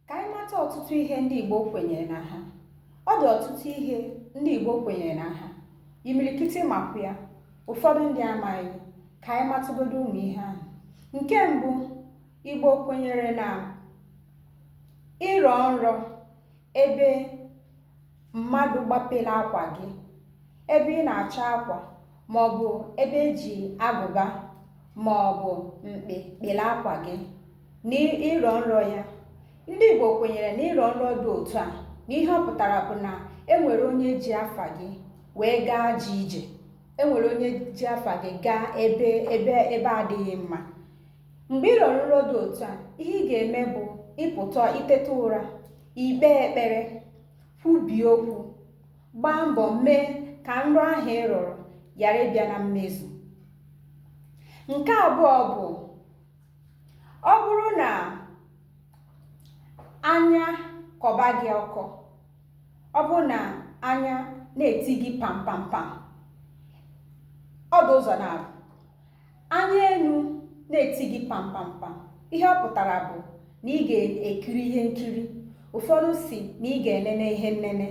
ka anyị mata ọtụtụ ihe ndị Igbo kwenyere na ha ọ dị ọtụtụ ihe ndị Igbo kwenyere na ha imirikiti makwa ya ụfọdụ ndị amaghị ka anyị matụgodo ụmụ ihe ahụ nke mbụ Igbo kwenyere na ịrọ nrọ ebe mmadụ gbapere akwa gị ebe ị na-acha akwa ma ọ bụ ebe eji agụba ma ọ bụ mkpa kpere akwa gị na ịrọ nrọ ya ndị igbo kwenyere na ịrọ nrọ dị otu a na ihe ọ pụtara bụ na enwere onye ji afa gị wee gaa ajọ ije enwere onye ji afa gị gaa ebe ebe ebe adịghị mma mgbe ị rọrọ nrọ dị otu a ihe ị ga-eme bụ ịpụta i teta ụra ikpe ekpere kwubie okwu gbaa mbọ mee ka nrọ ahụ ị rọrọ ghara ịbịa na mmezu nke abụọ bụ ọ bụrụ na anya kọba gị ọkọ ọ bụrụ na anya na-eti gị pam pam pam ọ dị ụzọ naabọ Anya elu na-eti gị pampampam, ihe ọ pụtara bụ na ị ga-ekiri ihe nkiri. Ụfọdụ sị na ị ga-enene ihe nnene.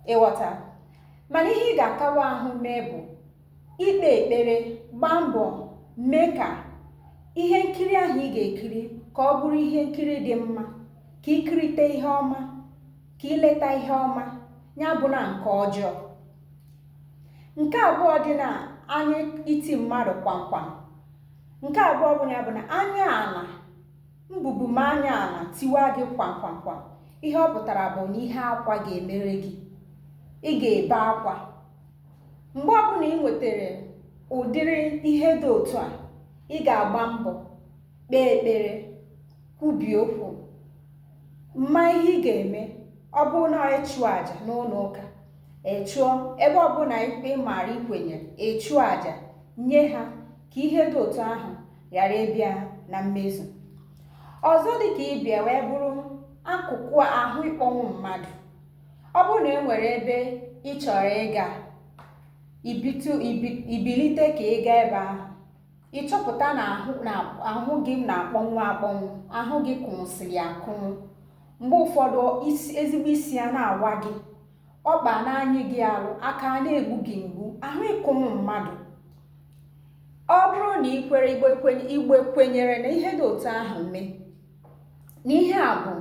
Ị ghọta? Mana ihe ị ga-akawa ahụ mee bụ ikpe ekpere, gbaa mbọ mee ka ihe nkiri ahụ ị ga-ekiri ka ọ bụrụ ihe nkiri dị mma, ka i kirite ihe ọma, ka i leta ihe ọma, ya abụna nke ọjọọ. nke abụọ dị na anya iti mmadụ kwamkwam nke abụọ bụ ya bụ na anya ala mbubu ma anya ala tiwa gị kwamkwamkwam ihe ọ pụtara bụ na ihe akwa ga-emere gị ị ga-ebe akwa mgbe ọbụla ị nwetara ụdịrị ihe dị otu a ị ga-agba mbọ kpee ekpere kwubie okwu ma ihe ị ga-eme ọ bụrụ na ịchụ àjà n'ụlọ ụka Ị chụọ ebe ọbụla ikpe ị maara i kwenye ị chụọ aja nye ha ka ihe dị otu ahụ ghara ịbịa na mmezu ọzọ dị ka ibe ya wee bụrụ akụkụ ahụ ịkpọnwụ mmadụ ọ bụrụ na e nwere ebe ị chọrọ ịga ibitu ibi- i bilite ka ị gaa ebe ahụ ị chọpụta na ahụ na ahụ gị na-akpọnwụ akpọnwụ ahụ gị kụnwụsịrị akụnwụ mgbe ụfọdụ isi ezigbo isi a na-awa gị ọkpa na-anyị gị alụ aka a na-egbu gị mgbu ahụ ịkụnwụ mmadụ ọ bụrụ na ị kwere Igbo kwenye- Igbo kwenyere na ihe dị otu ahụ mee na ihe a bụ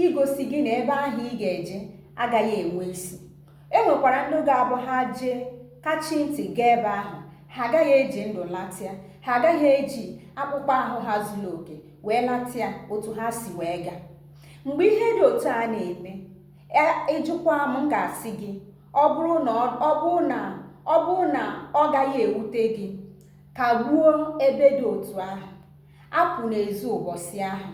igosi gị na ebe ahụ ị ga-eje agaghị enwe isi e nwekwara ndị ga-abụ ha jee kachi ntị gaa ebe ahụ ha agaghị eji ndụ latịa ha agaghị eji akpụkpọ ahụ ha zuru oke wee latịa otu ha si wee gaa mgbe ihe dị otu a na-eme ị jụkwa m m ga-asị gị ọ bụrụ na ọ gaghị ewute gị kagbuo ebe dị otu ahụ apụna ezi ụbọchị ahụ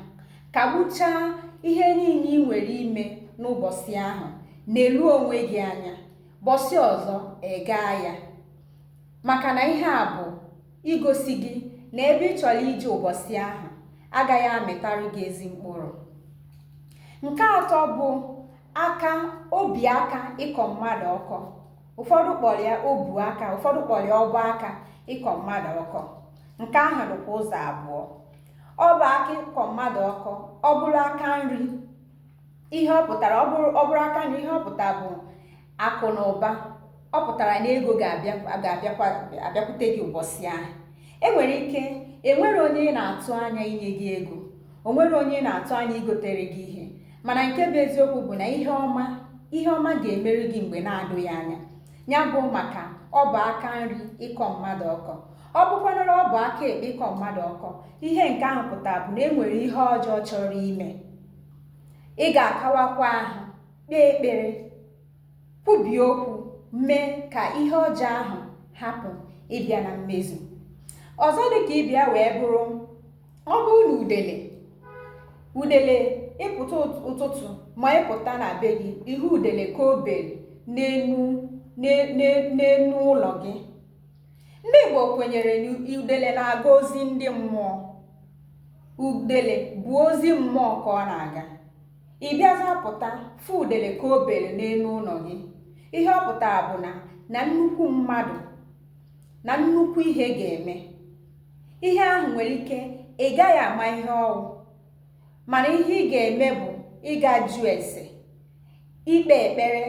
kagbuchaa ihe niile i nwere ime n'ụbọchị ahụ nelu onwe gị anya bọsị ọzọ ị gaa ya maka na ihe a bụ igosi gị na ebe ị chọrọ ije ụbọchị ahụ agaghị amịtara gị ezi mkpụrụ nke atọ bụ aka obi aka ịkọ mmadụ ọkọ ụfọdụ kpọrọ ya obu aka ụfọdụ kpọrọ ya ọbụ aka ịkọ mmadụ ọkọ nke ahụ dịkwa ụzọ abụọ ọbụ aka ịkọ mmadụ ọkọ ọ bụrụ aka nri ihe ọ pụtara ọ bụrụ aka nri ihe ọ pụtara bụ akụ na ụba ọ pụtara na ego ga-abịakwute gị ụbọchị ahụ e nwere ike e nwere onye ị na-atụ anya inye gị ego o nwere onye ị na-atụ anya igotere gị ihe mana nke bụ eziokwu bụ na ihe ọma ihe ọma ga-emere gị mgbe na-adụghị anya ya bụ maka ọbụ aka nri ịkọ mmadụ ọkọ ọ bụkwanara ọbụ aka ekpe ịkọ mmadụ ọkọ ihe nke ahụ pụtara bụ na e nwere ihe ọjọọ chọrọ ime ị ga-akawakwa ahụ kpee ekpere kwubie okwu mee ka ihe ọjọọ ahụ hapụ ịbịa na mmezu ọzọ dị ka ibe ya wee bụrụ ọ bụrụ na udele udele ị pụta ụtụtụ ma ị pụta na be gị ị hụ udele ka o bere n'enu ụlọ gị ndị Igbo kwenyere na udele na-aga ozi ndị mmụọ udele bụ ozi mmụọ ka ọ na-aga ị bịazịa pụta fụ udele ka o bere n'enu ụlọ gị ihe ọ pụtara bụ na na nnukwu mmadụ na nnukwu ihe ga-eme ihe ahụ nwere ike ị gaghị ama ihe ọ wụ mana ihe ị ga-eme bụ ịga jụọ ese ikpe ekpere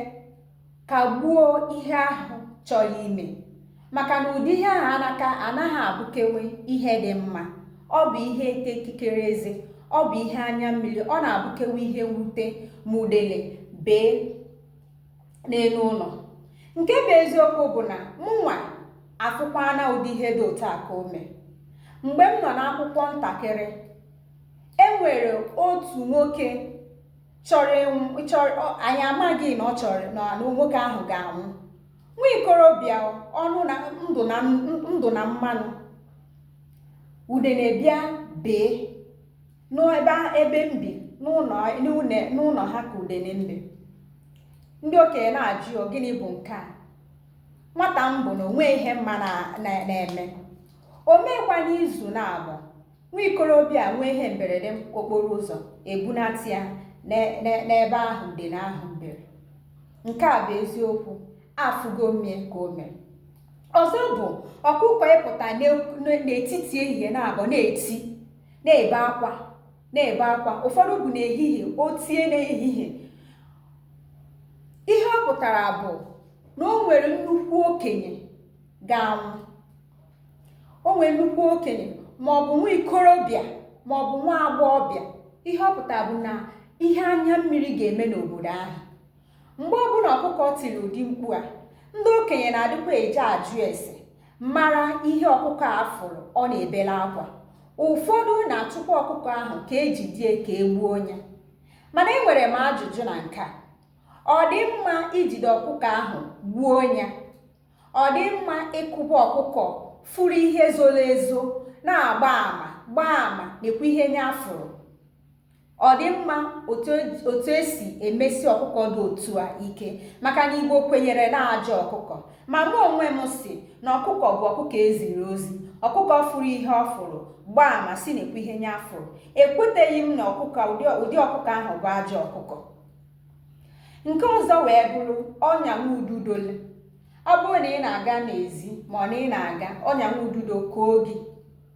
kagbuo ihe ahụ chọrọ ime maka na ụdị ihe ahụ anaka anaghị abụkewe ihe dị mma ọ bụ ihe ịta ikikere eze ọ bụ ihe anya mmiri ọ na-abụkewe ihe mwute ma udele bee n'elu ụlọ nke bụ eziokwu bụ na mụnwa afụkwana ụdị ihe dị otu a ka o mee mgbe m nọ n'akwụkwọ ntakịrị e nwere otu nwoke chọ anyị amaghị na ọ chọrọ na nwoke ahụ ga-anwụ nwa ikorobịa ọ nọ na ndụ na mmanụ udene bịa bee n'ebe ebe m bi n'ụlọ ha ka udene mbe ndị okenye na-ajụ ya gịnị bụ nke a nwata m bụ na o nwe ihe m ma na-eme o meekwa n'izu naabọ nwa ikorobịa nwee ihe mberede okporo ụzọ ebunata ya n'ebe ahụ udene ahụ bere nke a bụ eziokwu afụgo m ya ka o mere ọzọ bụ ọkụkọ ịpụta n'etiti ehihie naabọ na-eti na-ebe akwa na-ebe akwa ụfọdụ bụ n'ehihie o tie n'ehihie ihe ọ pụtara bụ na o nwere nnukwu okenye ga-anwụ o nwere nnukwu okenye ma ọ bụ nwa ikorobịa ma ọ bụ nwa agbọghọbịa ihe ọ pụtara bụ na ihe anya mmiri ga-eme n'obodo ahụ mgbe ọbụla ọkụkọ tiri ụdị mkpu a ndị okenye na-adịkwa eje ajụ ese mara ihe ọkụkọ a fụrụ ọ na-ebela akwa ụfọdụ na-achụkwa ọkụkọ ahụ ka ejide ya ka e gbuo ya mana enwere m ajụjụ na nke a ọ dị mma ijide ọkụkọ ahụ gbuo ya ọ dị mma ịkụba ọkụkọ fụrụ ihe zoro ezo na-agba ama gbaa ama na-ekwu ihe nya fụrụ Ọ dị mma otu e, otu esi emesi ọkụkọ dị otu a ike maka na Igbo kwenyere na ajọ ọkụkọ ma mụ onwe m sị na ọkụkọ bụ ọkụkọ eziri ozi ọkụkọ fụrụ ihe ọ fụrụ gbaa ama sị na-ekwu ihe nya fụrụ ekweteghị m na ọkụkọ ụdị ọkụkọ ahụ bụ ajọ ọkụkọ nke ọzọ wee bụrụ ọnya ududole ọ bụrụ na ị na-aga n'ezi ma ọ na ị na-aga ọnya ududo koo gị